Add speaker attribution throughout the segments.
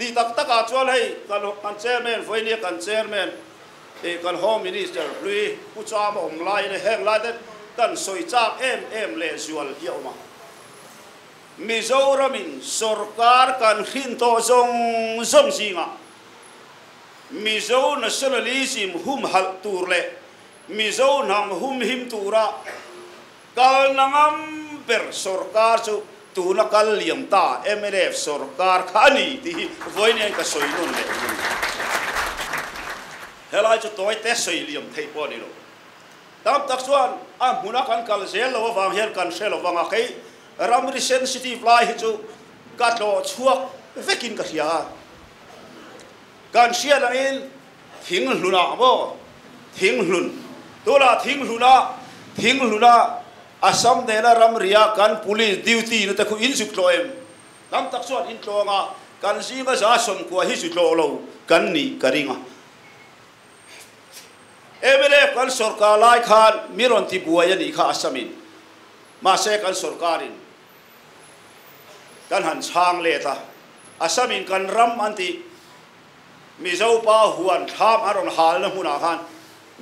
Speaker 1: Tih tak tak ah chuan hei kan chairman Vawini a kan chairman eh kan home minister hlui Pu Cham a awm lai ina heng lai ten kan sawi chak em em leh zual hi a awm a. Mizoram in sawrkar kan hrin tawh zawng zawng zing ah Mizo nationalism humhalh tur leh Mizo hnang humhim tura, Kalna ngam ber sorkar chu tuna kal liam ta mlf sorkar kha a ni tih hi vawiin ka sawi nawn leh reng a ni. Helai chu tawite sawi liam theih pawh a ni lo. Tam tak chuan a hmuna kan kal zel lo avang hian kan hre lo vang a, kei ramri sensitive lai hi chu ka tlawh chhuak vekin ka hria a. Kan hriat angin Thing hluna maw? Thing hlun. Tunah thing hluna, thing hluna Assam nena ram ria kan Police duty na te khu in zuk tlawh em? Tam tak chuan in tlawng a, kan zinga za sawmkua hi zu tlawh lo kan ni ka ring a. Mlf kan sorkar lai khan mi rawn ti buai a nih kha Assamin, mahse kan sorkarin kan han chhang let a, Assamin kan ram an tih. Mizo pa huan thlam an rawn halna hmunah khan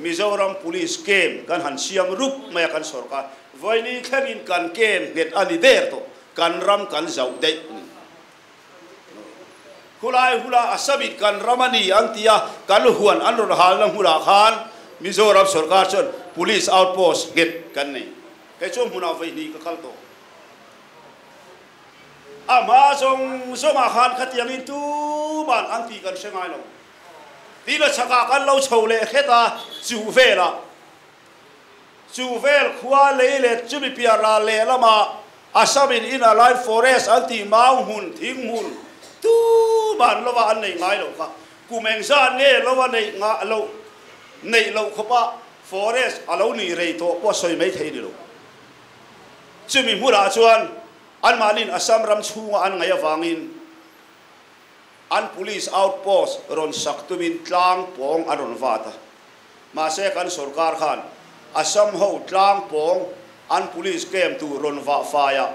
Speaker 1: Mizoram Police kem kan han siam rup mai a kan sorkar vaini thlengin kan kem nghet a ni der tawh kan ram kan zauh daih a ni. Khulai hula a summit kan ram a ni an tia kan huan an rawn halna hmunah khan Mizoram sorkar chuan Police outpost nghet kan nei. Kei chu a hmunah vaihni ka kal tawh. A hma zawng zawngah khan khatiangin tuman an tih kan hre ngai lo. Tih la chhakah kan lo chho leh hret a, chu velah chu vel khua lei let chu Mipiar ral lehlama Assamin Inner Line Forest an tih mau hmun thing hmun tuman lova an nei ngai lo kha. Kum engzah nge lova neih nga lo neih loh khawpa forest a lo ni rei tawh pawh sawi mai thei ni lo. Chumi hmunah chuan anmahni'n Assam ram chhunga an ngaih avangin an police outpost rawn sak tumin tlang pawng an rawn vat a. Mahse kan sorkar khan Assam ho tlang pawng an police camp tur rawn vah faiah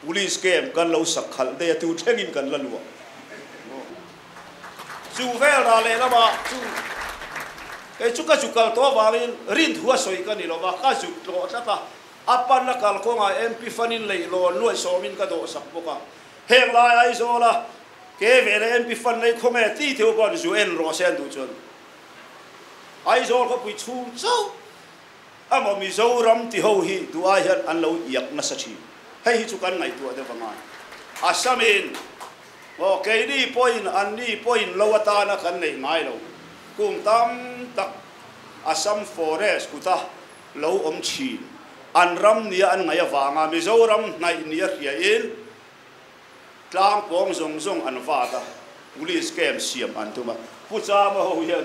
Speaker 1: police camp kan lo sak khalh daih a, tu thlengin kan la luah. Chu vel ra lehlamah chu kei chu ka zu kal tawh avangin rinthu a sawi ka ni lova, ka zut tlawh tlat a, a pan a kal kawngah MP Fanin leihlawn nuaihsawmin ka dawhsak bawk a, heng lai Aizawla ke vele MP Fan lei khaw nge ti theuh pawh an zu en rawh se an duh chuan Aizawl khawpui chhung chauh Amaw Mizoram ti ho hi duhah hian an lo iak nasa thin. Hei hi chu kan ngaihtuah deuh vang a. Assam in aw keini pawhin an ni pawhin lo atana kan neih ngai lo. Kung tam tak Assam forest kuta lo awm thin. An ram nia an ngaih avanga Mizoram hnaih nia hria in. Tlang pawng zawng zawng an vat a, police camp siam an tum a. Pu Chama ho hian,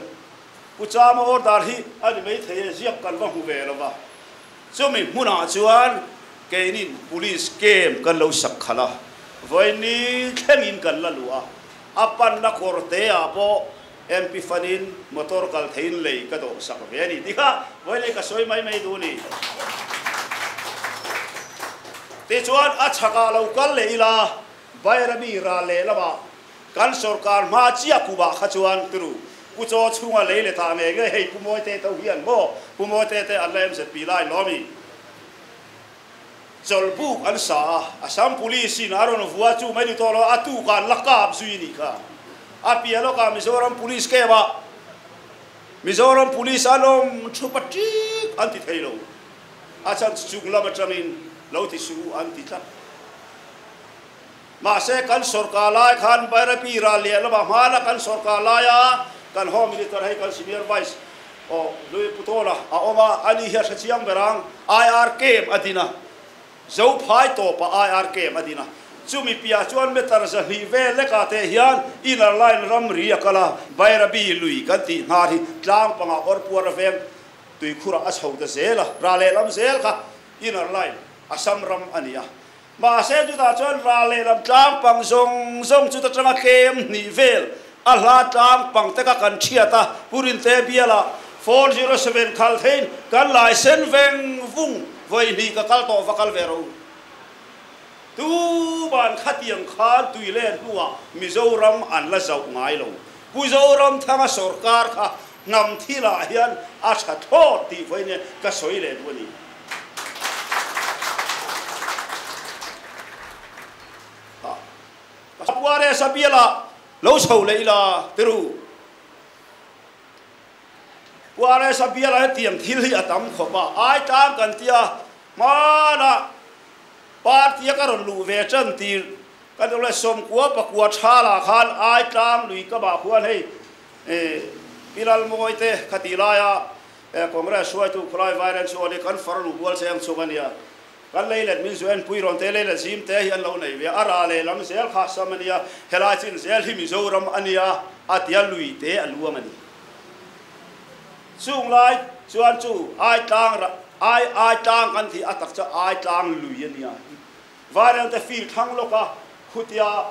Speaker 1: Pu Chama order hi a ni mai thei e, ziak kan va hmu ve lo va. Chumi hmunah chuan keinin police camp kan lo sak khalh a, vawiin ni thlengin kan la luh a, a panna kawrteah pawh, Mpi fanin motor kal theiin lei ka dawh sak ve a ni tih kha vawilei ka sawi mai mai duh ni. Tichuan a chhakah lo kal leh ila Bairami ral leh lamah kan sorkar hma chiah kumah kha chuan tunu Pu Chaw chhunga lei le thah nge nge hei Pu Mawite to hian maw Pu Mawite te an la MZP lai lawmi chawlhbuk an sa a, Assam Police in a rawn vua chu mai dutawh lo a tukah an la kap zui a nih kha. A piah lawkah Mizoram Police camp ah Mizoram Police a lawm thu patik an ti thei lo a chhan chu chunglam atangin lo ti suh an ti tlat. Mahse kan sorkar lai khan Bairapi ral leh lova hmana kan sorkar lai a, kan Home Minister hei kan Senior Vice aw Lui Putawla a awm a, ani hi a hre chiang ber ang. IRKM a din a, zo phai tawp a IRKM a din a, chumi piah chuan meter zahnih vel lek ah teh hian Inner Line ramri a kal a, Bairapi lui kan tih nghal hi tlang panga awr puar aveng tuikhur ah a chho ta zel a, ral lehlam zel kha Inner Line Assam ram a ni a. Mahse, chutah chuan ral leh lam tlangpang zawng zawng chu chutang a tlem hnih vel a hla tlangpang te kha kan thiat a, Purin te biala four zero seven khal theiin kan laisen veng vung vawi hnih ka kal tawh va kal ve ro. Tu ban khatiang khan Tuilen hnua Mizoram an la zauh ngai lo. Pu Zoramthanga sawrkar kha Hnam thilah hian a tha thlawt tih vawiin e ka sawi leh duh a ni. Hah. Ka Pares a biala lo chho leh ila Peru. Pares a biala hetiang thil hi a tam khawp a, ai tlang kan tia hmanah party a ka rawn luh ve chan tir ka duh leh sawmkua pakua tha lah khan ai tlang lui kamah khuan hei I Pi Lalmuawi te kha tih laia Congress hruaitu Khawlai Vairen chu awle kan far luh bual cheng chung a nia. Kan leilet min zuain puiron te leilet zim te hi an lo nei ve a, a ra leh lam zel kha sam a nia, helai chin zel hi Mizoram a nia a tia lui te a luang a ni. Chung lai chuan chu Aitlang rah, Ai Aitlang kan tih a takcha Aitlang lui a nia. Vairelte field thlang lawka khutia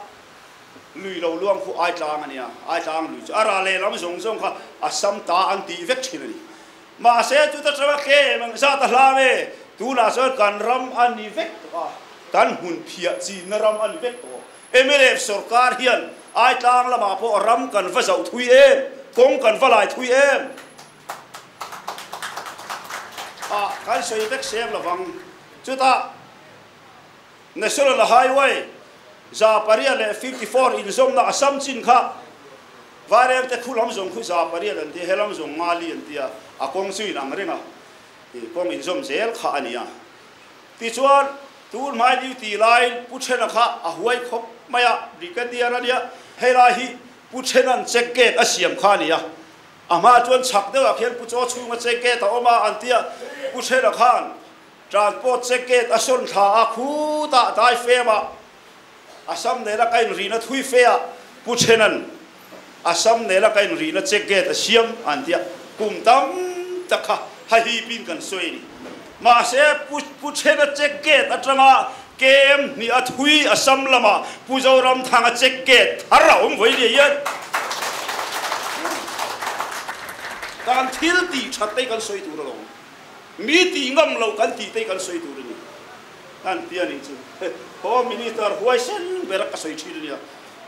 Speaker 1: lui lo luang khu Aitlang a nia. Aitlang lui chu a ra lehlam zawng zawng kha a sam ta an tih vek thin a ni. Mahse, chuta tanga tlem ang zat a hlam e. Tunah chuan kan ram a ni vek tawh a, kan hmun phiah chinna ram a ni vek tawh. Mlf sorkar hian Aitlang lamah pawh ram kan va zauh thui em? Kawng kan va lai thui em? ah kan sawi vek seng lo vang. Chutah National Highway za pariat leh fifty four inzawmna Assam chin kha Varengte khulam zawng khu za pariat an ti a, helam zawng Ngali an ti a, a kawng chu inang reng a, kawng inzawm zel kha a ni a. Tichuan tun hmai liu ti lai Pu Thena kha a huai khawp mai a, Brigadier a nia, helai hi Pu Thena-n check gate a siam kha a ni a. Amah chuan chhak deuhah khian Pu Chaw chhunga check gate a awm a an ti a, Pu Hrela khan transport check gate a sawn thla a, khutah dai fema a sam nena ka inrihna thui fe a, Pu Threna'n a sam nena ka inrihna check gate a siam an ti a, kum tam tak kha ha hipin kan sawi a ni. Mahse, Pu Pu Chhena check gate atanga KM hnih a thui Assam lama Pu Zoramthanga check gate thar a awm vawi nia hian kan thil tih that te kan sawi tur a lo. Mi tih ngam lo kan tih te kan sawi tur a ni. An tia nih chu Home Minister huaisen ber a sawi thin a nia.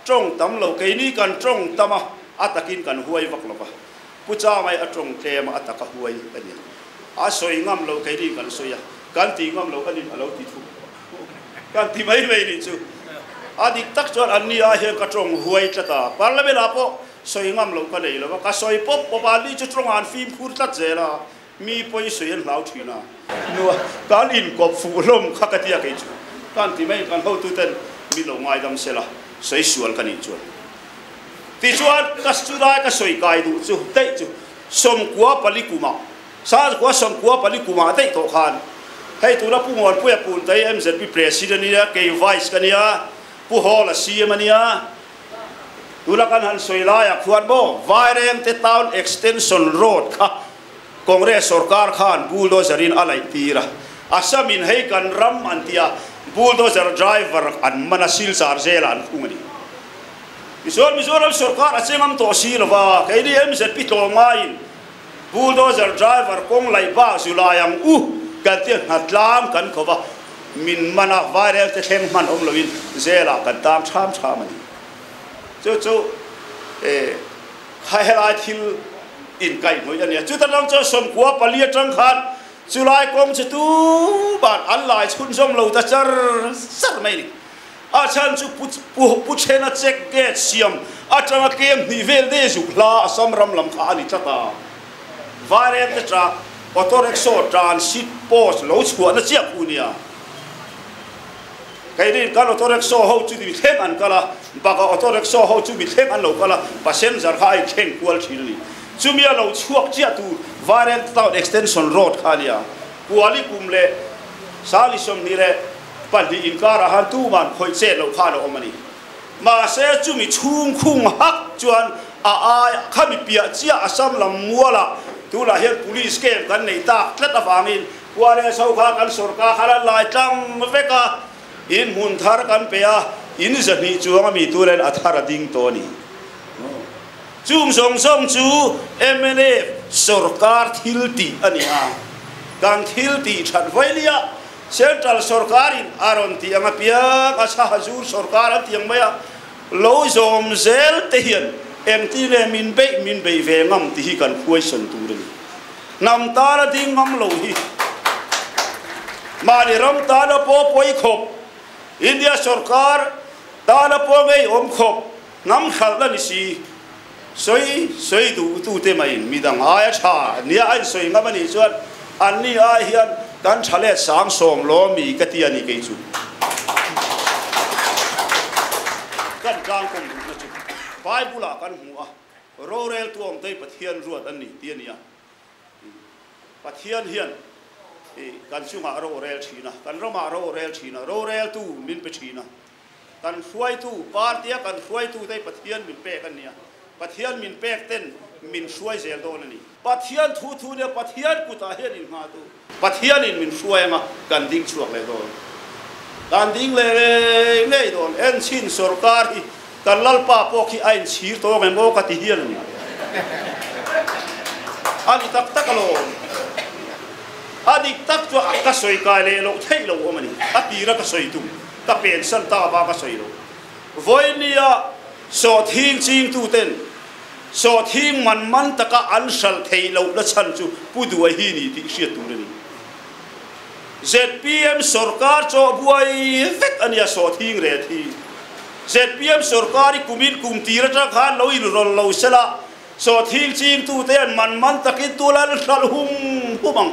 Speaker 1: Tawng tam lo, keini kan tawng tam a, a takin kan huai vak lo va. Pu Changai a tawng tlem a, a taka huai a ni. A sawi ngam lo, keini kan sawi a, kan ti ngam lo, a nih a lo ti thup a, kan ti mai mai nih chu a dik tak chuan an ni ah hian ka tawng huai tlat a, Parliament ah pawh sawi ngam lo ka nei lo a, ka sawi pawp pawp a, an ni chu tawng ah an fimkhur tlat zel a, Mi pawi sawi an hlau thin a. Nua, kan inkawp fuh hlawm kha ka ti a kei chu. Kan ti mai, kan hotu ten mi lo ngaidam se la, sawi sual ka nih chuan. Tichuan, ka chulai ka sawi kai duh chu teih chu sawmkua pali kuma, Sazkua sawmkua pali kuma teih tawh khan, hei tuna Pu Muanpuia Puntaia MZP President a nia, kei Vice ka nia, Pu Hall a CM a nia, Tuna kan han sawi laia khuan maw? Vairengte Town Extension Road kha Congress sawrkar khan bulldozer in a laih tir a. A sa min hei kan ram an ti a, bulldozer driver an man a, silchar zela an khung a ni. Tichuan Mizoram sawrkar a che ngam tawh si lova, keini MZP tlawm ngaiin, Bulldozer driver kawng laih bak zu lai ang u kan tih a nghat tlang kan khawp a, min man a viral te thleng hman awm loin zela kan tang chham chham a ni. Chu chu kha helai thil in kaih hnuih a ni a, chuta lawng chuan sawmkua pali atang khan chulai kawng chu tuban an laichhun zawm lo ta char char mai a ni. A chhan chu Pu Chhena Chek Date siam atanga tlem hnih vel dei zuk hla a sam ram lam kha a ni tlat a. Vairem te chah auto rickshaw transit post lo chhuahna chiah phu nia. Kei rin kal auto rickshaw ho chu ni thleng an kal a, baka auto rickshaw ho chu mi thleng an lo kal a, passenger kha a inthleng kual thin a ni. Chumi a lo chhuak chiah tu Vairem Town Extension Road kha a nia. Kuali kum leh Sali sawmhnih leh Pahnih inkar ah han tum an khawih chet lo khan a awm a ni. Mahse chumi chhung khung hak chuan a ai kha mi piah chiah a sam lam mual a, tunah hian police kem kan nei tak tlat avangin khua leh chho kha kan sorkar khan a lai tlang vek a, inhmun thar kan pe a, in zahnih chuang a mi tu nen a thar a ding tawh a ni. Chung zawng zawng chu mnf sorkar thil tih a ni a, kan thil tih that vailiah. Central sorkarin a rawn tih ang apiang a chha zur sorkar an tih ang mai a, lo zawm zel te hian engtin nge min beih min beih ve ngam tih hi kan khuaisawn tur a ni. Hnam tan a ding ngam lo hi mahni ram tan a paw pawi khawp, India sorkar tan a paw ngeiawm khawp hnam hralhna ni si Sawi sawi duhtute mahin midang aia tha nia a insawi ngam a nih chuan an ni ai hian kan tha let sang sawm law mi ka ti a ni kei chu. Kan tlangkawng duhna chu Bible-ah kan hmu a, rorel tuamtei Pathian ruat an ni ti a ni a. Pathian hian kan chungah rorel thin a, kan ramah rorel thin a, roreltu min pe thin a. Kan hruaitu, party-a kan hruaitu te Pathian min pek an nia. Pathian min pek ten min hruai zel dawn a ni. Pathian thu thu nia, Pathian kutah hian in nghah duh. Pathianin min hruai anga kan ding chhuak leh dawn. Kan ding leh ngei ngei dawn. En chin sorkar hi kan lalpa pawh khi a in chhir tawng em aw ka ti hian a ni. A ni tak tak alawm. A dik tak chuan ka sawi kai leh loh theih loh awm a ni. A tira ka sawi tum. ka pen san ta va ka sawi lo. Vawimia sawthing chingtuten sawthing man man taka an hral thei loh na chhan chu Pu Duai hi ni tih hriat tur a ni. Zpm sawrkar chawh buai vek a nia sawthing ret hi. Zpm sawrkar i kumin kum tir atang khan lo inrawl lo sela sawthing chingtute hian man man takin tualal an hral hum hum ang.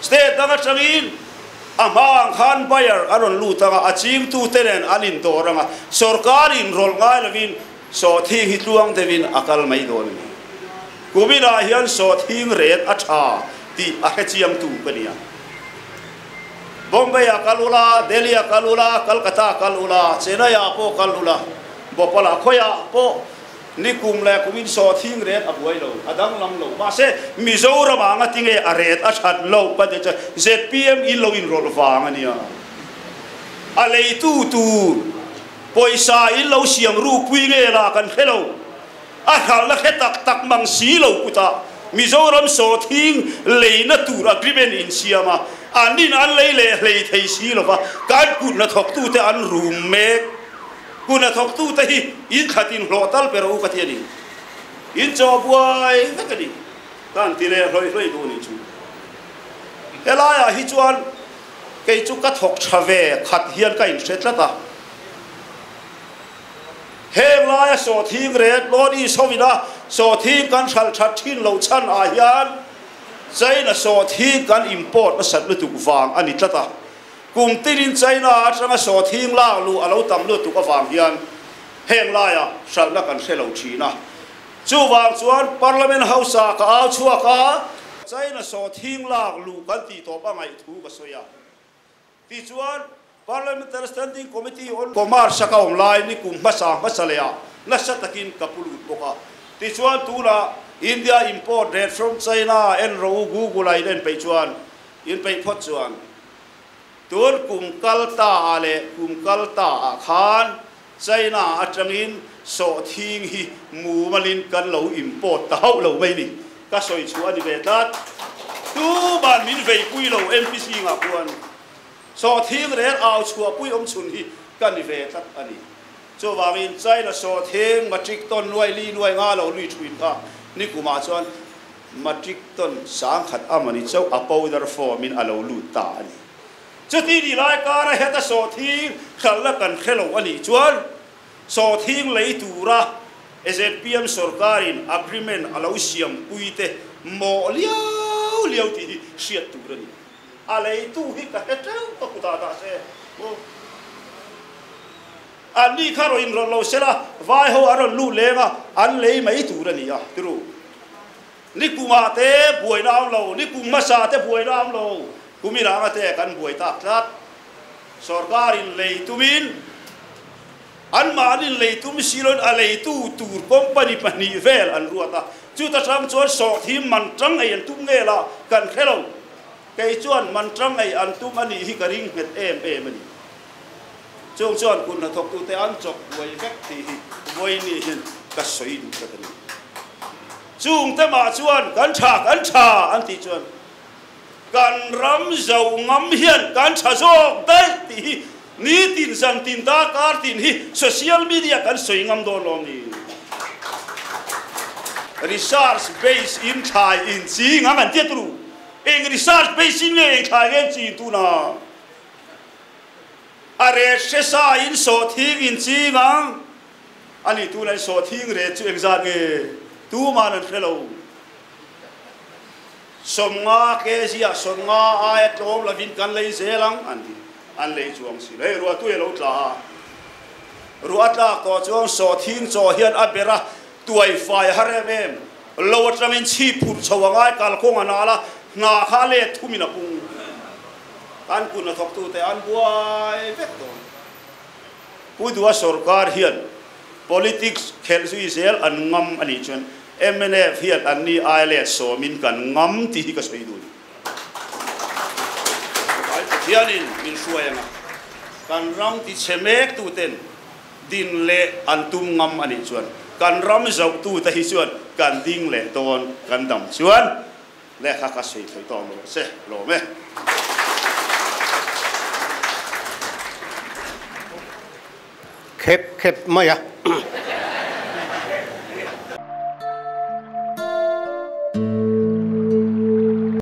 Speaker 1: State dang atangin a hmaah khan buyer a rawn lut ang a, a chingtute nen an indawr ang a, sorkar inrawlh ngai lovin sawthing hi tluang deuhin a kal mai dawn a ni. Kuminah hian sawthing ren a tha tih a hrechiangtu ka nia. Bombay a kal ula, Delhi a kal ula, Calcutta a kal ula, Chennai ah pawh kal ula, Bhopal a khawiah pawh, Ni kum leh kum in saw thing ret a buai lo, a danglam lo. Mahse, Mizoram ah anga tinge a ret a that loh ka ti chuan zpm i lo inrawlh vang a nia. A lei tu tu pawisa in lo siam ru pui nge la kan hre lo. A hralhna hre tak tak mang si lo putah Mizoram saw thing leina tur agreement in siam a, an in an lei leh hlei thei si lova kan hutna thawk tu te an rum mek. Hun a thawktu te hi in that in hlawh tal ber u ka ti a ni. In chaw buai vek a ni ka an ti leh hlawih hlawih duh a nih chu. He laiah hi chuan kei chu ka thawk tha ve khat hian ka inhre tlat a. Heng laia sawthing ren lawn i sawmin a sawthing kan hral that thin lo chhan ah hian China sawthing kan import nasat lutuk vang a ni tlat a. Kum tinin China atanga sawthing lak luh a lo tam lutuk avang hian heng laia hralhna kan hre lo thin a. Chuvang chuan Parliament House-a ka au chhuak a, China sawthing lak luh kan tih tawp a ngaih thu ka sawi a, tichuan Parliamentary Standing Committee on Commerce-a ka awm lai ni kum hmasa hmasa leh a nasa takin ka pu lut bawk a, tichuan tunah India import rate from China-a en ro u Google-a in en peih chuan In peih phawt chuan tun kum kal ta ah leh kum kal ta ah khan China atang in sawh thing hi mumal in kan lo import ta hauh lo mai ni ka sawi chhuah a ni ve tlat. Tuman min vei pui lo MP Sing ah khuan sawh thing rel au chhuah pui awm chhun hi ka ni ve tlat a ni. Chuvang in China sawh thing matric ton nuai li nuai nga lo lui thuin kha ni kum ah chuan, Matric tawn sangkhat a mani chauh a powder form in a lo lut ta a ni. Chuti nih lai kara heta sawhthing hralhna kan hre lo a nih chuan sawhthing lei tura zpm sawrkar in agreement a lo siam pui te mawh lio lio tih hi hriat tur a ni. A leitu hi ka hre teuh ka kutah dah se. Aw. An ni kha rawn inrawlh lo sela vaiho an rawn lut leng a, an lei mai tur a ni a tiro. Ni kunga te buaina awm lo, ni kung hmasa te buaina awm lo, kumi ranga te kan buai tak tlat. Sorkar in lei tumin anmah an inlei tum si loin a lei tu tur company pahnih vel an ruat a, chuta tang chuan sawhthim man tangai an tum nge la kan hre lo, kei chuan man tangai an tum a nih hi ka ring nghet em em a ni. Chung chuan kut hnathawktute an chawk buai vek tih hi vawi ni hian ka sawi duh tlat a ni. Chungte mah chuan kan tha, kan tha an tih chuan kan ram zo ngam hian kan tha zawk daih tih hi nitin zan tin dar kar tin hi social media kan sawi ngam dawn lo ni. Research base in thlai in ching ang an ti a tu lu. Eng research base in nge eng thlai nge an ching tun a? a rêt hre sain sawhthing in chîng ang. A nih tûn ain sawhthing rêt chu engzât nge tûman an hre lo. Sawmnga kg-ah sawmnga aia tlâwm lovin kan lei zêl ang an ti. An lei chuang si lo. Hei ruatu hi a lo tla a. Ruah a tlâk tawh chuan sawhthing chaw hian a ber a, tuai fai a harem em. Lo atlangin chhip phurh chho a ngai kalkawng a nâl a, hna kha a lêt thumin a pung. an kun a thawk tu te an buai vek dawn. Pu Dua sorkar hian politics khelh zui zel an ngam a nih chuan mnf hian an ni ai le sawm in kan ngam tih hi ka sawi dun. Ai Pathian in min hruai ang a, kan ram ti chhe mek tu ten din leh an tum ngam a nih chuan kan ram zauh tu te hi chuan kan ding leh dawn kan dam chuan. Lehkha ka sawi thei tawh maw se lawm e.
Speaker 2: Khep khep mai a.